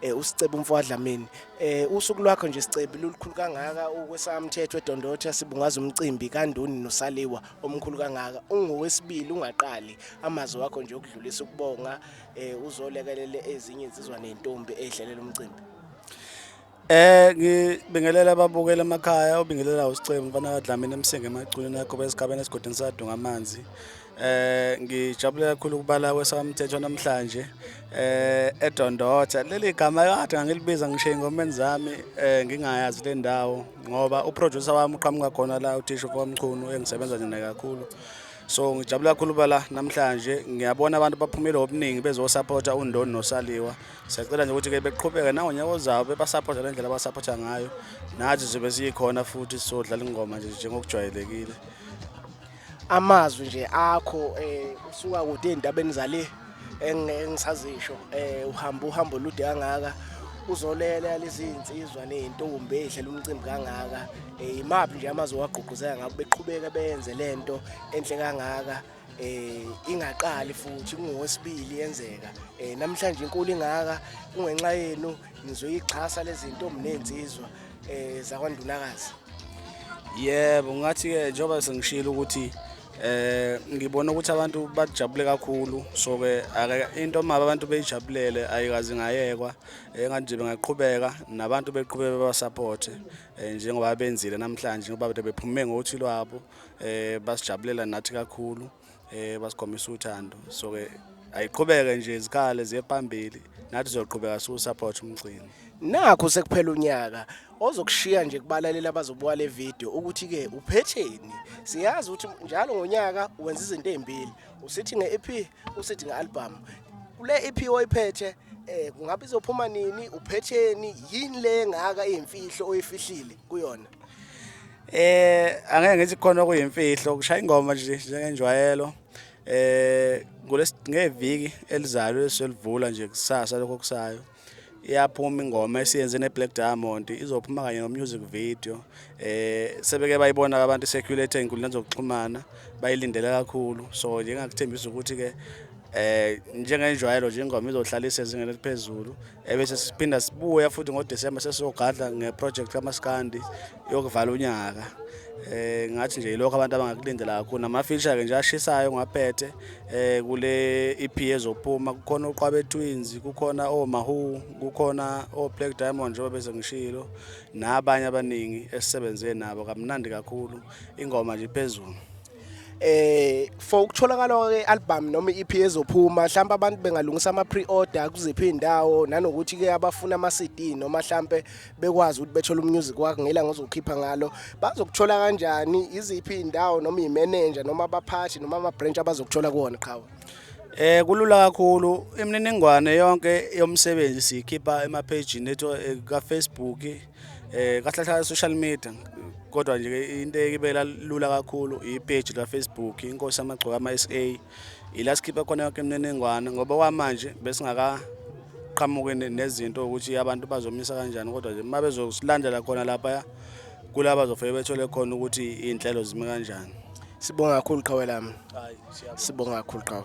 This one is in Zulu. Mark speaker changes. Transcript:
Speaker 1: eh uSicebo Mfwadlamini eh usuku lwakho nje Sicebo lulukhulu kangaka ukwesamthetho eDondotha sibungaza umcimbi kaNdoni noSaliwa omkhulu kangaka ungowesibili ungaqali amazwi wakho nje okudlulisa ukubonga eh uzolekelele ezinye izizwa nentombi edlelela umcimbi Eh
Speaker 2: ngibingelela ababukela emakhaya obingelela uSicebo mfana kaDlamini emsinga emaculeni yakho besigabeni esigodini sadunga amanzi Eh ngijabule kakhulu ukubala kwesamthetho namhlanje eh eDondotha leli gama kade ngangilibiza ngisho ingomeni zami eh ngingayazi le ndawo ngoba uproducer wami uqhamuka khona la uthisha uFomchunu engisebenza naye kakhulu so ngijabula kakhulu bala namhlanje ngiyabona abantu baphumile obuningi bezosapota undoni nosaliwa siyacela nje ukuthi-ke beqhubeke nangonyaka ozayo bebasapotha le ndlela abasapotha ngayo nathi zobe siyikhona futhi sizodlala ingoma nje njengokujwayelekile
Speaker 1: amazwi nje akho eh usuka kude endabeni zale engisazisho eh uhamba uhambo lude kangaka uzolela lezi insizwa nezintombi ehle lomcimbi kangaka eh imaphi nje amazwi wagqugquzela ngabo beqhubeka benze lento enhle kangaka eh ingaqali futhi kungowesibili yenzeka eh namhlanje inkulu ingaka kungenxa yenu Nizoyixhasa lezi ntombi nensizwa eh zakwandunakazi.
Speaker 2: Yebo, ngathi ke njengoba sengishilo ukuthi eh ngibona ukuthi abantu bajabule kakhulu so ke ake into maba abantu beyijabulele ayikazi ngayekwa engathi nje bengaqhubeka nabantu beqhubeke baba support eh, njengoba benzile namhlanje ngoba bephume ngothi lwabo eh basijabulela nathi kakhulu eh basikhombisa uthando so ke ayiqhubeke nje izikhale ziye phambili nathi sizoqhubeka siwu support umgcini nakho sekuphela
Speaker 1: unyaka ozokushiya nje kubalalela abazobuka le video ukuthi ke uphetheni siyazi ukuthi njalo ngonyaka wenza izinto ezimbili usithi ngeEP usithi ngealbum kule EP oyiphethe eh kungabe izophuma nini uphetheni yini le ngaka imfihlo oyifihlile kuyona Eh
Speaker 2: angeke ngithi khona okuyimfihlo kushaya ingoma nje njengenjwayelo. Eh ngeviki elizayo eselivula nje kusasa lokho kusayo iyaphuma ingoma esiyenze neBlack Diamond izophuma kanye nomusic video eh sebeke bayibona abantu circulate ezinkundleni zokuxhumana bayilindele kakhulu so nje ngakuthembisa ukuthi ke eh njengenjwayelo nje ingoma izohlalisa ezingeni eliphezulu ebese siphinda sibuya futhi ngoDecember sesizogadla ngeproject kaMaskandi yokuvala unyaka eh ngathi nje lokho abantu abangakulindela kakhulu namafisha ke nje ashisayo ngwaphethe eh kule EP ezophuma kukhona uqwabe twins kukhona omahu kukhona o Black Diamond njengoba bese ngishilo nabanye abaningi esisebenze nabo kamnandi kakhulu ingoma nje phezulu eh
Speaker 1: for ukutholakala kwe album noma iEP ezophuma mhlawumbe abantu bengalungisa ama pre-order kuziphi indawo nanokuthi ke abafuna ama CD noma mhlawumbe bekwazi ukuthi bethole umusic wakhe ngela ngozokhipha ngalo bazokuthola kanjani iziphi indawo noma imanager noma abaphathi noma ama branch abazokuthola kuona qhawe Eh kulula
Speaker 2: kakhulu imininingwane yonke yomsebenzi sikhipha emaphejini ethu eh, ka Facebook Eh kahle kahle social media kodwa nje into ekibela lula kakhulu ipage la Facebook inkosi amagcoka ama SA ila sikhipha khona yonke imniningwane ngoba kwamanje besingaka qhamuke nezinto ukuthi abantu bazomisa kanjani kodwa nje uma bezosilandela khona lapha kulaba zofike bethole khona ukuthi iy'nhlelo zime kanjani sibonga kakhulu
Speaker 1: qhawe lami sibonga kakhulu qhawe